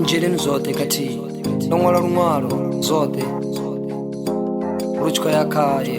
nzheleni zwoṱhe khathihi ndo ṅwala luṅwalo zwoṱhe lu tshi khou ya khaye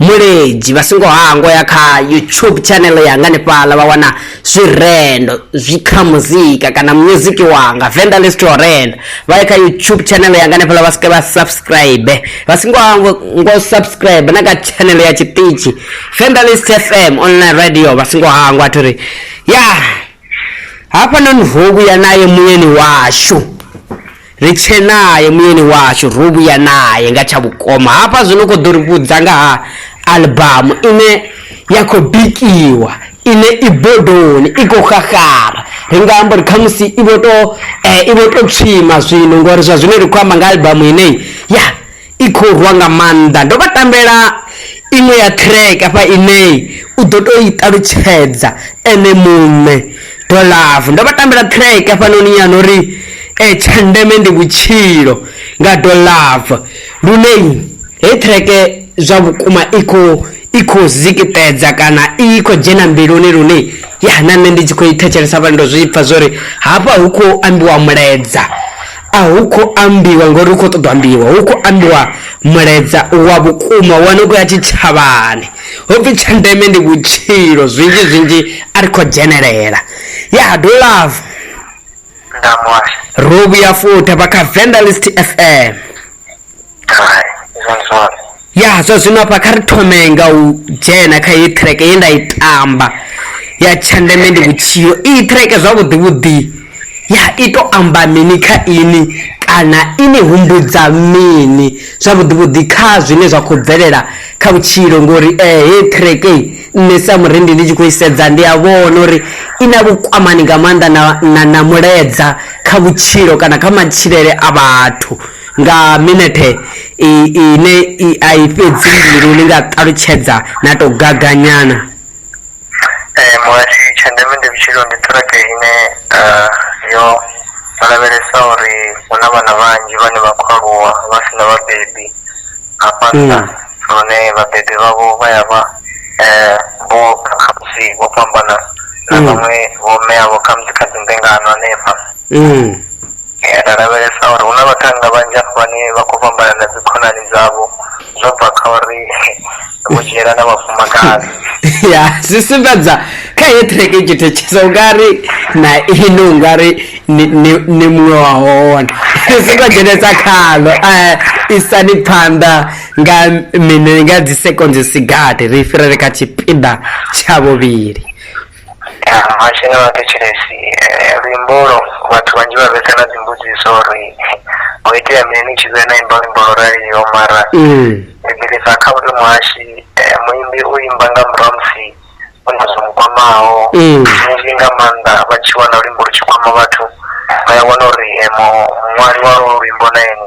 Muledzhi vha songo hangwa ya kha YouTube channel yanga hanefhaḽa vha wana zwirendo zwi kha muzika kana music wanga Venḓa List to Renda vha ye kha YouTube channel yanga hanefhaḽa vha swike vha subscribe vha songo hangwa ngo subscribe na kha channel ya tshiṱitshi Venḓa List FM online radio vha songo hangwa a thuri ya hafha noni ho vhuya naye muyeni washu Ri tshee nae, muyeni washu, ro vhuya nae nga tsha vhukoma. Hafha zwino u khou ḓo ri vhudza nga ha aḽbamu ine ya khou bikiwa, ine i bodoni, i khou xaxara. Ri nga amba uri khamusi i vho tou, i vho tou tswima zwino, ngori zwa zwino ri khou amba nga aḽbamu ine, ya, i khou rwa nga maanḓa ndo vha tambela iṅwe ya track afha ine u ḓo to i ṱalutshedza ene muṋe do love ndo vha tambela track afhanoni yana uri eh tsha ndeme ndi vhutshilo nga do love lune he track zwa vhukuma i khou i khou zikitedza kana i khou dzhena mbiluni lune ya na nṋe ndi tshi khou i thetshelesa vha ndo zwi pfha zwori hafha hu khou ambiwa muledza A hu khou ambiwa ngori hu khou ṱoḓa ambiwa hu khou ambiwa mulaedza wa vhukuma wane u khou ya tshitshavhani ho pfhi tsha ndeme ndi vhutshilo zwinzhi zwinzhi a ri khou dzhenelela ya do love ro vhuya futhi vha kha vendelist fm ya zwa zwino hafha kha ri thome nga u dzhena kha heyi track ye nda i tamba ya tshandeme ndi vhutshilo iyi track zwavhuḓi vhuḓi ya i to amba mini kha ini kana ini humbudza mini zwavhuḓi vhuḓi kha zwine zwa khou bvelela kha vhutshilo ngori um eh, heyi track nṋe sa murendi ndi tshi khou i sedza ndi a vhona uri i na vhukwamani nga maanḓa na, na, na muledza kha vhutshilo kana kha matshilele a vhathu Nga minethe iyi ine a i fhedzi mbilu ni nga ṱalutshedza na tou gaganyana? Ee muhasho, tsha ndeme ndi vhutshilo ndi ṱiraka ine yo lavhelesa uri hu na vhana vhanzhi vhane vha khou aluwa vha si na vhabebi hafha nnḓa lune vhabebi vhavho vha ya vha vho khamusi vho fhambana na vhaṅwe vho mme avho khamusi kha dzi mbingano hanefha. Eh. Eh, ra lavhelesa uri hu na vhathannga vhanzhi afho vhane vha khou fhambana na dzikhonani dzavho zwo bva kha uri vho dzhiela na vhafumakadzi ya zwi sumbedza kha heyi track i tshi thetshetsa ungari na ino ungari ni- ni ni muṅwe wa hone ri songo dzhenesa khalo eh, isani phanḓa nga mini nga dzi seconds sigati ri fhirele kha tshipiḓa tsha vhuvhili mashine wa thetshelesi luimbo lwo vhathu vhanzhi vha vhesa na dzimbudziso uri ho itea mini ni tshi vhe na imba luimbo lwo raliho mara ndi bilisa kha uri muhashi eh, muimbi u imba nga murahu musi u na zwo mukwamaho zwinzhi nga maanḓa vha tshi wana luimbo lu tshi kwama vhathu vha ya wana uri eh, mu- muṅwali wa lwo luimbo na ene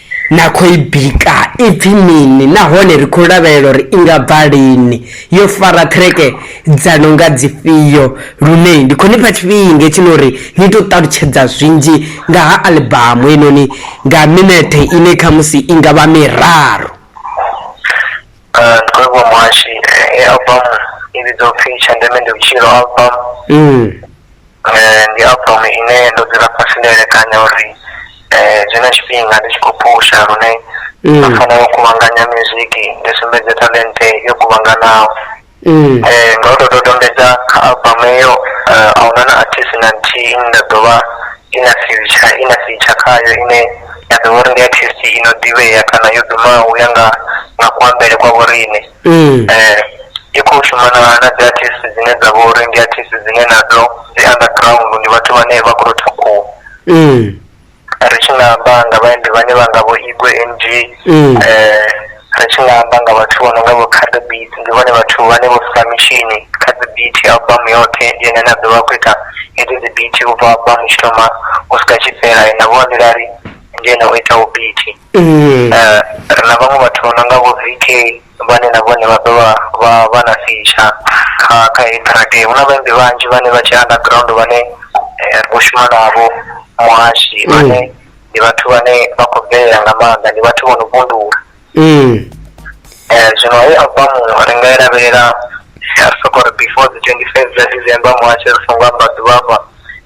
Na khou i bika? I pfi mini nahone ri khou lavhelela uri i nga bva lini? Yo fara ṱhireke dza no nga dzifhio? Lune ndi khou ni fha tshifhinga hetshino uri ni tou ṱalutshedza zwinzhi nga ha aḽibamu heinoni nga minethe ine khamusi i nga vha miraru. Ndi khou livhuwa muhashi. Heyi aḽibamu i vhidzwa u pfi Tsha Ndeme Ndi Vhutshilo Album. ndi album ine ndo dzula fhasi nda elekanya uri zwino tshifhinga ndi tshi khou phusha lune nda fanela u kuvhanganya music ndi sumbedze talente yo kuvhanganaho nga u to dodombedza kha album eyo a huna na artist na nthihi ine nda ḓovha i na future i na feature khayo ine ya ḓovha uri ndi artist ino ḓivhea kana yo dumaho u ya nga nga kuambele kwa vhoriṋe i khou shuma na na dzi artist dzine dza vha uri ndi artist dzine nadzo dzi underground ndi vhathu vhane vha khou rotha khuhu ri tshi nga amba nga vhaimbi vhane vha nga vho igwe ng um ri tshi nga amba nga vhathu vho no nga vho khaḓo beat ndi vhone vhathu vhane vho sa mitshini kha dzi beat album yoṱhe ndi ene na ḓo vha khou ita hedzi dzi beat u bva album tshi thoma u swika tshi fhela na vho nḓilari ndi ene o itaho beat Ee. Ri na vhaṅwe vhathu vho no nga vho VK vhane na vhone vha dovha vha vha na feature kha kha heyi track. Hu na vhaimbi vhanzhi vhane vha tshe underground vhane ro shuma navho muhashi vhane ndi vhathu vhane vha khou bvelela nga maanḓa ndi vhathu vho no vhundula. Zwino heyi album ri nga i lavhelela ri soko ri before dzi twenty five dza December muhashi ri songo amba ḓuvha hafha.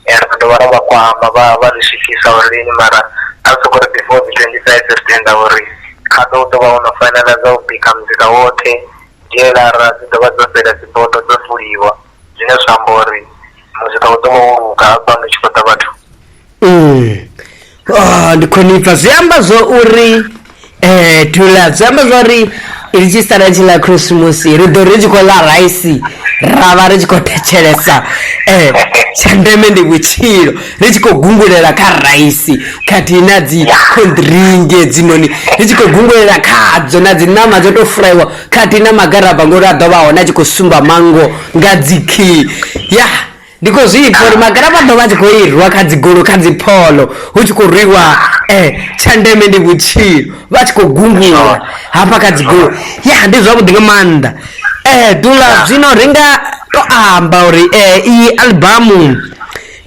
ra dovha ra vha kwama vha vha ri swikisa uri lini mara a ri soko ri before dzi twenty five ri tenda uri kha ḓo ḓovha ho no fainala dza u bika muzika woṱhe dzhieḽara dzi dovha dzo fhela dzi bodo dzo fuliwa zwine zwa amba uri muzika u ḓovha wo luga hafha hu tshi khou ḓa vhathu. ndi khonifha zwi amba zwo uri um to ḽa zwi amba zwa uri ri tshi sala tshi ḽa khirisimusi ri ḓo ri tshi khou ḽa raisi ra vha ri tshi khou thetshelesa um tsha ndeme ndi vhutshilo ri tshi khou gungulela kha raisi khathihi na dzi khoḓiringe dzinoni ri tshi khou gungulela khadzo na dzi ṋama dzo tou furaiwa khathihi na magaraba ngori a ḓo vha hone a tshi khou sumba manngo nga dzi khiyi ya ndi khou zwipfa uri magala vha ḓo vha tshi khou irwa kha dzigolo kha dzipholo hu tshi khou rwiwa um tsha ndeme ndi vhutshilo vha tshi khou gungula hafha kha dzigolo ya ndi zwavhuḓi nga maanḓa um dula zwino ri nga to amba uri um iyi albamu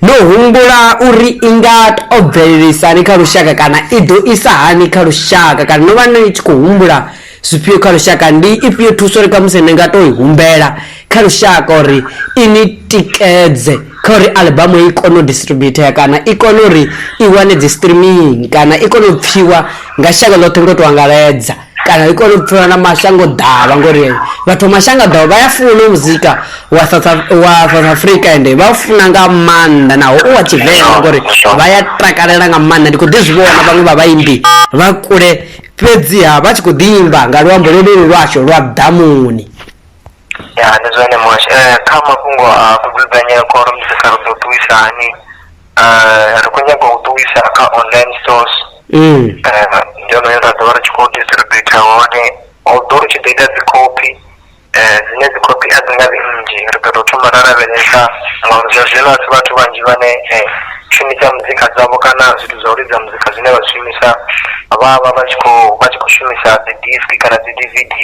no humbula uri i nga to bvelelisani kha lushaka kana i ḓo isa hani kha lushaka kana no vha ni tshi khou humbula zwifhio kha lushaka ndi ifhio thuso ri kamusi ni nga to i humbela kha lushaka uri i ni tikedze kha uri albamu i kone u distributea kana i kone uri i wane dzi streaming kana i kone u pfiwa nga shango ḽoṱhe ngo to angaledza kana i kone u pfiwa na mashango ḓavha ngori vhathu mashango ḓavha vha ya funa muzika wa south africa ende vha u funa nga maanḓa naho u wa tshivenḓa ngori vha ya takalela nga maanḓa ndi kho ḓi zwi vhona vhaṅwe vha vhaimbi vha kule fhedziha vha tshi khou ḓi imba nga luambo lwolwolu lwashu lwa ḓamuni ya ndi zwone mosh eh, kha mafhungo a kudzudzanyela khoro musi sa ri ḓo ṱuwisa hani eh, ri khou nyanga u ṱuwisa kha online source mm. eh, ndi yone yo ra ḓo vha ri tshi khou distributa hone although ri tshi ḓo ita dzi copy dzine dzi khophi a dzi nga vhi nnzhi ri ḓo tou thoma ra lavhelesa ngauri zwa zwino a si vhathu vhanzhi vhane shumisa muzika dzavho kana zwithu zwa u lidza muzika zwine vha zwi shumisa vha vha vha tshi khou vha tshi khou shumisa dzi disk kana dzi dvd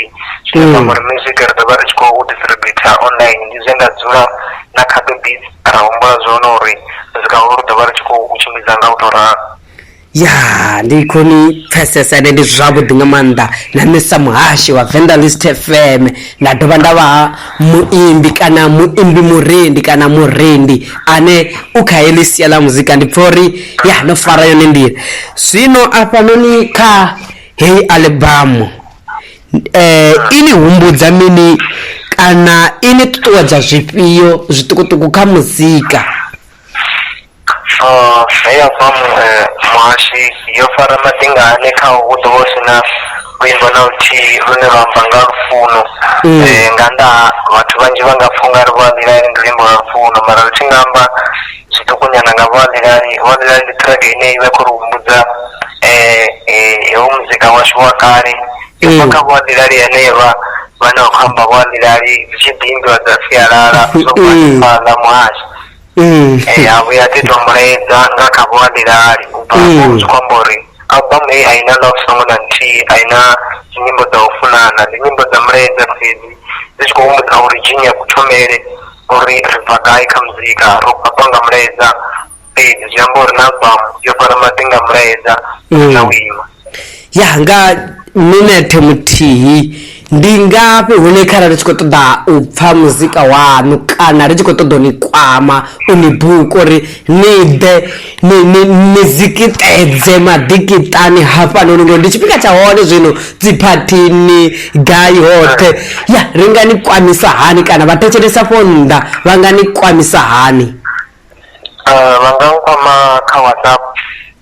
zwine zwa amba uri music ri ḓo vha ri tshi khou distributor online ndi zwe nda dzula na khaṱo beat ra humbula zwone uri muzika holo ri ḓo vha ri tshi khou tshimbidza nga u tou ralo ya ndi khoni pfesesa ende ndi zwavhuḓi nga maanḓa na nṋe sa muhashi wa venḓa list fm nda dovha nda vha muimbi kana muimbi murendi kana murendi ane u kha heḽi sia ḽa muzika ndi pfha uri ya no fara yone nḓila zwino afhanoni kha heyi albamu eh ini humbudza mini kana ini ṱuṱuwedza zwifhio zwiṱukuṱuku kha muzika He ya bva muhashi yo fara maḓingani khaho hu ḓo vha hu si na luimbo na luthihi lune lwa amba nga lufuno nga nnḓa ha vhathu vhanzhi vha nga pfha ungari vho a ḽilani ndi luimbo lwa lufuno mara ri tshi nga amba zwiṱuku nyana nga vho a ḽilani vho a ḽilani ndi track ine ivha i kho ri humbudza hoyu muzika washu wa kale yo bva kha vho a ḽilani henevha vhane vha khou amba vho a ḽilani dzi tshi ḓi imbiwa dza sialala dzo bva hanefhaḽa muhasho. ee eh, a vhuya ḓi tou mulaedza nga kha vho abilali u bva mm. zwi khou amba uri album heyi a i na love song na nthihi a i na dzinyimbo dza u funana ndi nyimbo dza mulaedza fhedzi dzi tshi khou humbudza uri dzhini ya kuthomele uri ri bva gai kha muzika ro fhaṱwa nga mulaedza fhedzi zwi amba uri na album yo fara maḓi nga mulaedza mm. na u ima ya nga minethe muthihi ndi ngafhi hune kharali ri tshi khou ṱoḓa u pfha muzika waṋu kana ri tshi khou ṱoḓa u ni kwama u ni buka uri ni ḓe ni zikiṱedze maḓikiṱani hafhanoni ngori ndi tshifhinga tsha hone zwino dziphathini gai hoṱhe ya ri nga ni kwamisa hani kana vha thetshelesa fho nnḓa vha nga ni kwamisa hani eh, vha nga nkwama kha whatsapp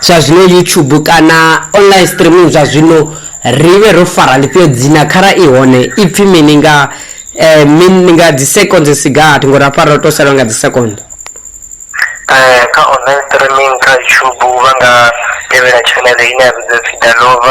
Zwa zwino YouTube kana online streaming zwa zwino ri vhe ro fara ḽifhio dzina khara i hone i pfi mini nga eh, min, nga dzi seconds si gathi ngori afha ro to salwa nga dzi second eh, kha online streaming kha youtube vha nga tevhela channel ine ya vhidza pfi dalova